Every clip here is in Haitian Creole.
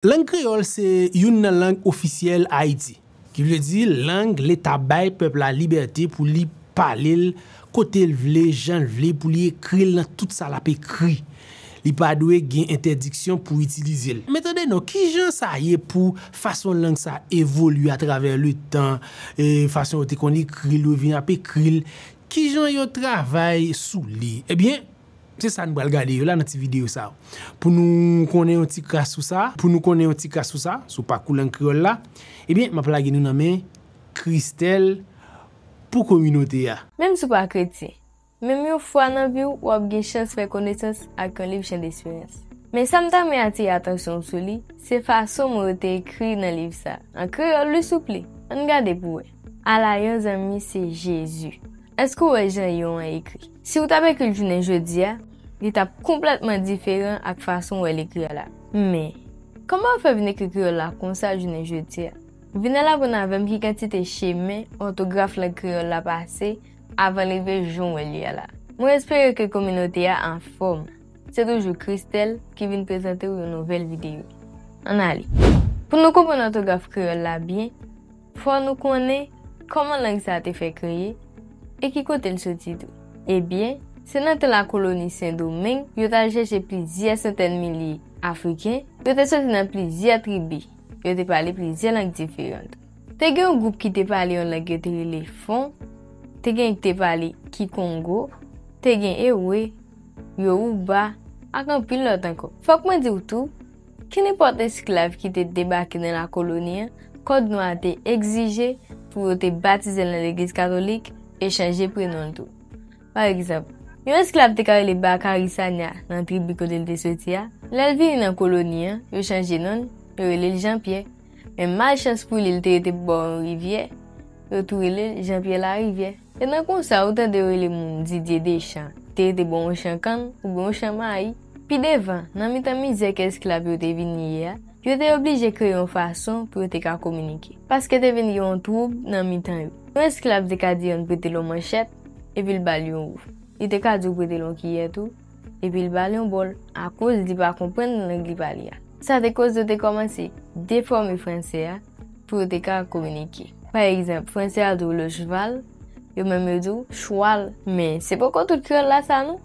Lang kreyòl se youn nan lang ofisyèl Ayiti, ki vle di lang Leta bay pèp la libète pou li pale l kote l vle, jan l vle, pou li ekri l nan tout sa l ap ekri. Li pa dwe gen entèdiksyon pou itilize l. Men tande non, ki jan sa ye pou fason lang sa a evolye atravè letan, fason yo te konn ekri l, yo vin ap ekri l, ki jan yo travay sou li? Ebyen. Se sa nou pral gade yo la nan ti videyo sa a. Pou nou konnen yon ti kras sou sa, pou nou konnen yon ti kras sou sa, sou pakou lang kreyòl la, ebyen m ap lage nou nan men Christelle pou kominote a. Menm si w pa kretyen, menm yon fwa nan vi w, w ap gen chans fè konesans ak yon liv chandesperans. Men sa m ta renmen atire atansyon w sou li, se fason mo yo te ekri nan liv sa a. An kreyòl wi souple! Ann gade pou wè. Ala yon zanmi se Jezi! Èske w wè jan Yon an ekri? Si w t ap ekri l jounen jodi a, li t ap konplètman diferan ak fason w wè l ekri a la. Men, kòman w fè vin ekri kreyòl la konsa jounen jodi a? Vin al aprann avè m ki kantite chemen òtograf lang kreyòl la pase avan l rive jan w wè l ye a la. Mwen espere ke kominote a anfòm. Se toujou Christelle ki vin prezante w yon nouvèl videyo. Ann ale! Pou nou konprann òtograf kreyòl la byen, Fò nou konnen kòman lang sa a te fè kreye e ki kote l soti tou. Ebyen, se nan tan lakoloni Sen Domeng yo t al chèche plizyè santèn milye Afriken, yo te soti nan plizyè tribi, yo te pale plizyè lang diferan tou. Te gen yon gwoup ki te pale yon lang yo te rele Fon, te gen ki te pale Kikongo, te gen Ewe, Yowouba ak anpil lòt ankò. Fòk mwen di w tou, Kenenpòt esklav ki te debake nan lakoloni an, Kòd Nwa a te egzije pou yo te batize l nan legliz katolik e chanje prenon l tou. Pa egzanp, yon esklav te ka rele Bakari Sanya nan tribi kote l te soti a, lè l vini nan koloni an, yo chanje non l, yo rele l Janpyè. Men malchans pou li, li te rete bò yon rivyè, yo tou rele l Janpyè Larivyè. E nan konsa ou tande yo rele moun Didier Deschamps te rete bò yon chan kann oubyen yon chan mayi. Pi devan, nan mitan mizè ke esklav yo te vin ye a, yo te oblije kreye yon fason pou yo te ka kominike. Paske te vin gen yon twoub nan mitan yo. Yon esklav te ka di yon prete l yon manchèt, epi l ba l yon ou. Li te ka di ou prete l yon kiyè tou. epi l ba l yon bòl akoz li pa konprann lang li pale a. Sa te koz yo te kòmanse defòme franse a pou yo te ka kominike. Pa egzanp, franse a di w le cheval, yo menm yo di w chwal. Men, se poko tout kreyòl la sa non!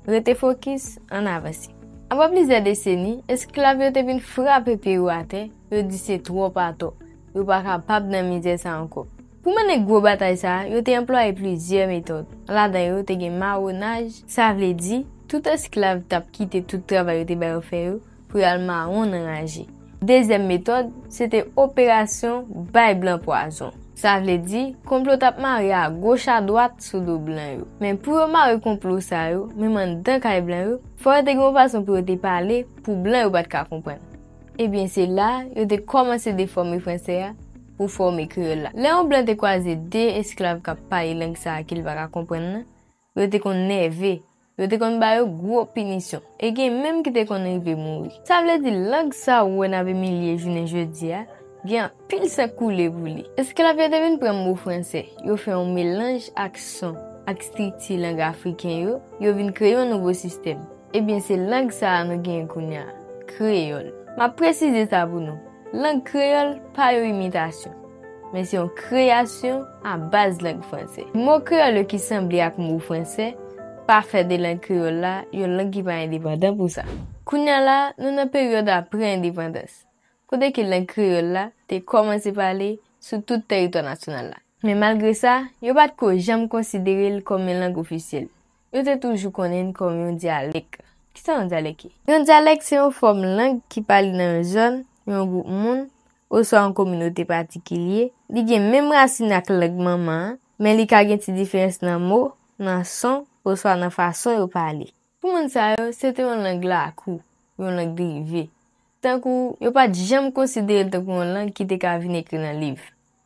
Rete fokis, ann avanse. Apre plizyè deseni, esklav yo te vin frape pye yo atè, yo di se twòp atò, yo pa kapab nan mizè sa ankò. Pou mennen gwo batay sa a, yo te anplwaye plizyè metòd. Ladan yo te gen mawonaj, sa vle di, tout esklav t ap kite tout travay yo te ba yo fè yo pou y al mawon nan raje. Dezyèm metòd, se te operasyon bay blan pwazon. Sa vle di, konplo t ap mare agoch adwat sou do blan yo. Men, pou yo mare konplo sa yo, menm anndan kay blan yo, fò yo te gen yon fason pou yo te pale pou blan yo pa t ka konprann. Ebyen, se la a, yo te kòmanse defòme franse a pou fòme kreyòl la. Lè yon blan te kwaze de esklav k ap pale lang sa a ke l pa ka konprann nan, yo te konn nève, yo te konn ba yo gwo pinisyon, e gen menm ki te konn rive mouri. Sa vle di lang sa ou wè n ap imilye jounen jodi a, gen anpil san koule pou li. Esklav yo te vin pran mo franse, yo fè yon melanj ak son ak strikti lang afriken yo, yo vin kreye yon nouvo sistèm. Ebyen se lang sa a nou genyen kounya, kreyòl. M ap presize sa pou nou, lang kreyòl pa yon imitasyon, men se yon kreyasyon a baz lang franse. Mo kreyòl yo ki sanble ak mo franse pa fè de lang kreyòl la yon lang ki pa endepandan pou sa. Kounya la, nou nan peryòd apre endepandans, kote ke lang kreyòl la te kòmanse pale sou tout tèritwa nasyonal la. Men malgre sa, yo pa t ko janm konsidere l kòm yon lang ofisyèl, Yo te toujou konnen n kòm yon dyalèk. Ki sa yon dyalèk ye? Yon dyalèk se yon fòm lang ki pale nan yon zòn, yon gwoup moun, oswa yon kominote patikilye. Li gen menm rasin ak lang manman an, men li ka gen ti diferans nan mo, nan son, oswa nan fason yo pale. Pou moun sa yo, se te yon lang lakou, yon lang drive. Tankou yo pa t janm konsidere l tankou yon lang ki te ka vin ekri nan liv.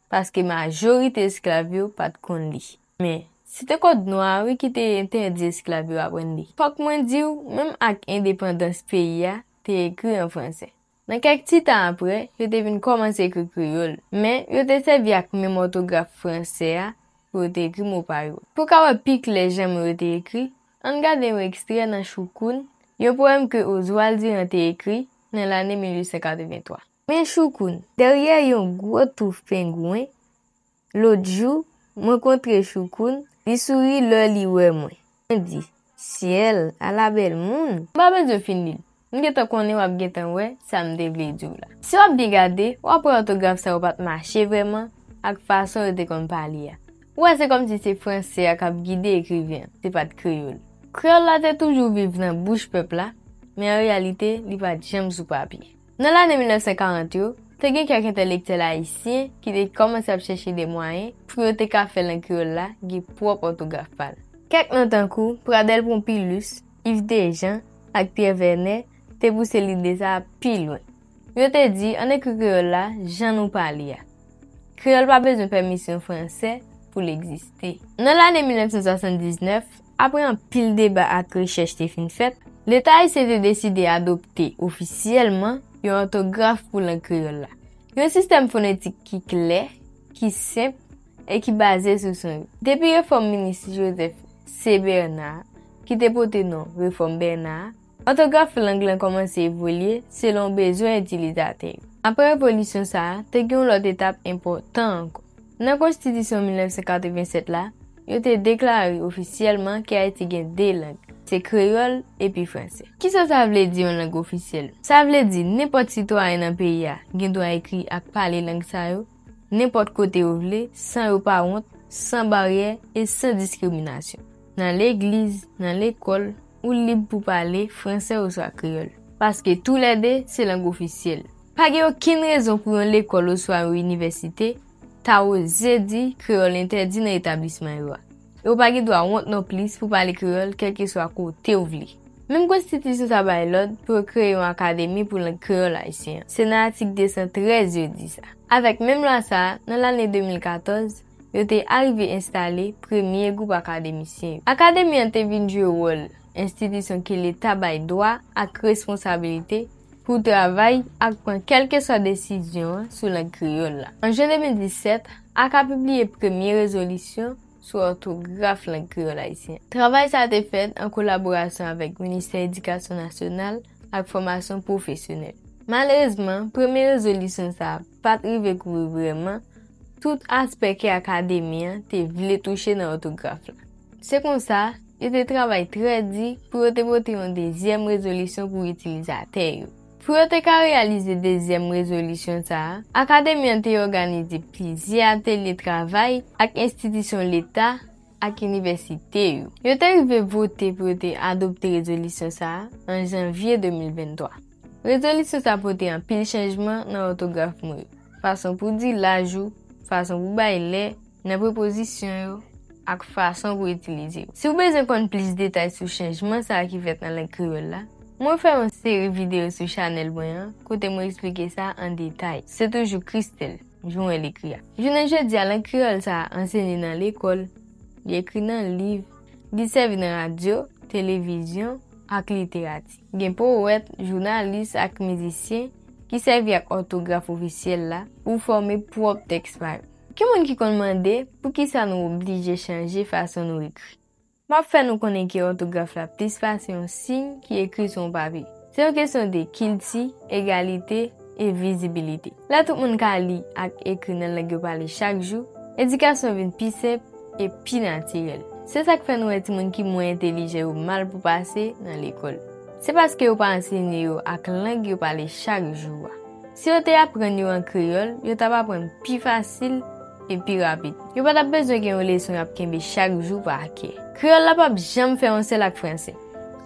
Paske majorite esklav yo pa t konn li. Men, se te kòd nwa a wi ki te entèdi esklav yo aprann li. Fòk mwen di w, menm ak endepandans peyi a, te ekri an franse. Nan kèk ti tan apre, yo te vin kòmanse ekri kreyòl. Men, yo te sèvi ak menm òtograf franse a pou yo te ekri mo pa yo. Pou w ka wè pi klè jan mo yo te ekri, an n gade yon ekstrè nan Choukoun, yon powèm ke Oswald Durand te ekri nan lane 1883. Men Choukoun, dèryè yon gwo touf pengwen, Lòt jou, mwen kontre Choukoun, li souri lò li wè mwen. Mwen di, Syèl, ala bèl moun! M pa bezwen fin li l. M gentan konnen w ap gentan wè sa m te vle di w la. Si w ap byen gade, w ap wè òtograf sa yo pa t mache vrèman ak fason yo te konn pale a. Ou wè se kòmsi se franse a k ap gide ekriven an, se pa t kreyòl. Kreyòl la te toujou viv nan bouch pèp la, men an reyalite li pa t janm sou papye. Nan lane 1940 yo, te gen kèk entèlektyèl ayisyen ki te kòmanse ap chèche de mwayen pou yo te ka fè lang kreyòl la gen pwòp òtograf pa l. Kèk non tankou Pradel Pompilus, Iv Dejan ak Pyè Vènè te pouse lide sa a pi lwen. Yo te di ann ekri kreyòl la jan nou pale a. Kreyòl pa bezwen pèmisyon franse pou l egziste. Nan lane 1979, Apre anpil deba ak rechèch te fin fèt, Leta ayisyen te deside adopte ofisyèlman yon òtograf pou lang kreyòl la, yon sistèm fonetik ki klè, ki senp e ki baze sou son yo. Depi refòm minis Joseph C. Bernard, ki te pote non Refòm Bernard, Òtograf lang lan kòmanse evolye selon bezwen itilizatè yo. Apre evolisyon sa a, te gen yon lòt etap enpòtan ankò. Nan Konstitisyon 1987 la, yo te deklare ofisyèlman ke Ayiti gen de lang, se kreyòl epi fransè. Kisa sa vle di yon lang ofisyèl? Sa vle di nenpòt sitwayen nan peyi a gen dwa ekri ak pale lang sa yo, nenpòt kote yo vle, san yo pa wont, san baryè e san diskriminasyon. Nan legliz, nan lekòl, ou lib pou pale fransè oswa kreyòl, paske tou lè de se lang ofisyèl. Pa gen okenn rezon pou yon lekòl oswa yon inivèsite ta oze di kreyòl entèdi nan etablisman yo a. E ou pa gen dwa wont non plis pou pale kreyòl kèlkeswa kote ou vle. Menm konstitisyon sa bay lòd pou yo kreye yon akademi pou lang kreyòl ayisyen an. Se nan atik 213 yo di sa. Avèk menm lwa sa a, nan lane 2014, yo te arive enstale premye gwoup akademisyen yo. Akademi an te vin jwe wòl enstitisyon ke Leta bay dwa ak responsabilite pou travay ak pran kèlkeswa desizyon sou lang kreyòl la. An jen 2017, Aka pibliye premye rezolisyon sou òtograf lang kreyòl ayisyen an. Travay sa a te fèt an kolaborasyon avèk Ministè Edikasyon Nasyonal ak Fòmasyon Pwofesyonèl. Malerezman, premye rezolisyon sa a pa t rive kouvri vrèman tout aspè ke Akademi an te vle touche nan òtograf la. Se konsa, yo te travay trè di pou yo te pote yon dezyèm rezolisyon pou itilizatè yo. Pou yo te ka reyalize dezyèm rezolisyon sa a, Akademi an te òganize plizyè atelye travay ak enstitisyon leta ak inivèsite yo. Yo te rive vote pou yo te adopte rezolisyon sa a an janvye 2023. Rezolisyon sa a pote anpil chanjman nan òtograf mo yo, fason pou di laj ou, fason pou bay lè, nan prepozisyon yo ak fason pou itilize yo. Si w bezwen konn plis detay sou chanjman sa a ki fèt nan lang kreyòl la, mwen fè yon seri videyo sou chanèl mwen an kote mwen esplike sa an detay. Se toujou Christelle, Jouwen l ekri a. Jounen jodi a, lang kreyòl sa a anseye nan lekòl, li ekri nan liv, li sèvi nan radyo, televizyon ak literati. Gen powèt, jounalis ak mizisyen ki sèvi ak òtograf ofisyèl la pou fòme pwòp tèks pa yo. Gen moun ki konn mande poukisa nou oblije chanje fason nou ekri. M ap fè nou konnen ke òtograf la plis pase yon siy ki ekri sou yon papye. Se yon kesyon de kilti, egalite, e vizibilite. Lè tout moun ka li ak ekri nan lang yo pale chak jou, edikasyon vin pi senp e pi natirèl. Se sa k fè nou wè timoun ki mwen entelijan yo mal pou pase nan lekòl. Se paske yo pa ansenye yo ak lang yo pale chak jou a. Si yo te aprann yo an kreyòl, yo t ap aprann pi fasil e pi rapid. Yo pa t ap bezwen gen yon leson y ap kenbe chak jou pa kè. Kreyòl la pap janm fè yon sèl ak franse.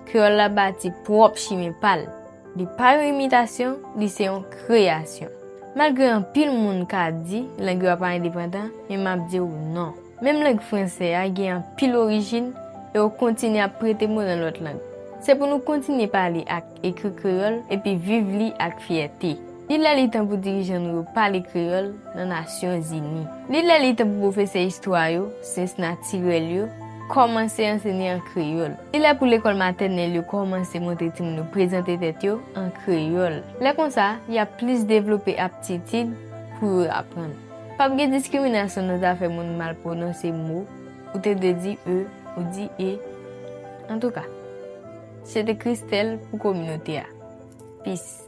Kreyòl la bati pwòp chimen pa l. Li pa yon imitasyon, li se yon kreyasyon. Malgre anpil moun ka di lang yo a pa endepandan, men m ap di w non. Menm lang franse a gen anpil orijin e yo kontinye ap prete mo nan lòt lang. Se pou nou kontinye pale ak. Ekri kreyòl epi viv li ak fyète. Li lè li tan pou dirijan nou yo pale kreyòl nan Nasyon Zini. Li lè li tan pou pwofesè istwa yo, syans natirèl yo, kòmanse ansenye an kreyòl. Li lè pou lekòl matènèl yo kòmanse montre timoun yo prezante tèt yo an kreyòl. Lè konsa, y ap plis devlope aptitid pou yo aprann. Pa p gen diskriminasyon nan zafè moun mal pwononse mo, ou te dwe di e, ou di e. Antouka. Se te Christelle pou kominote a. Peace.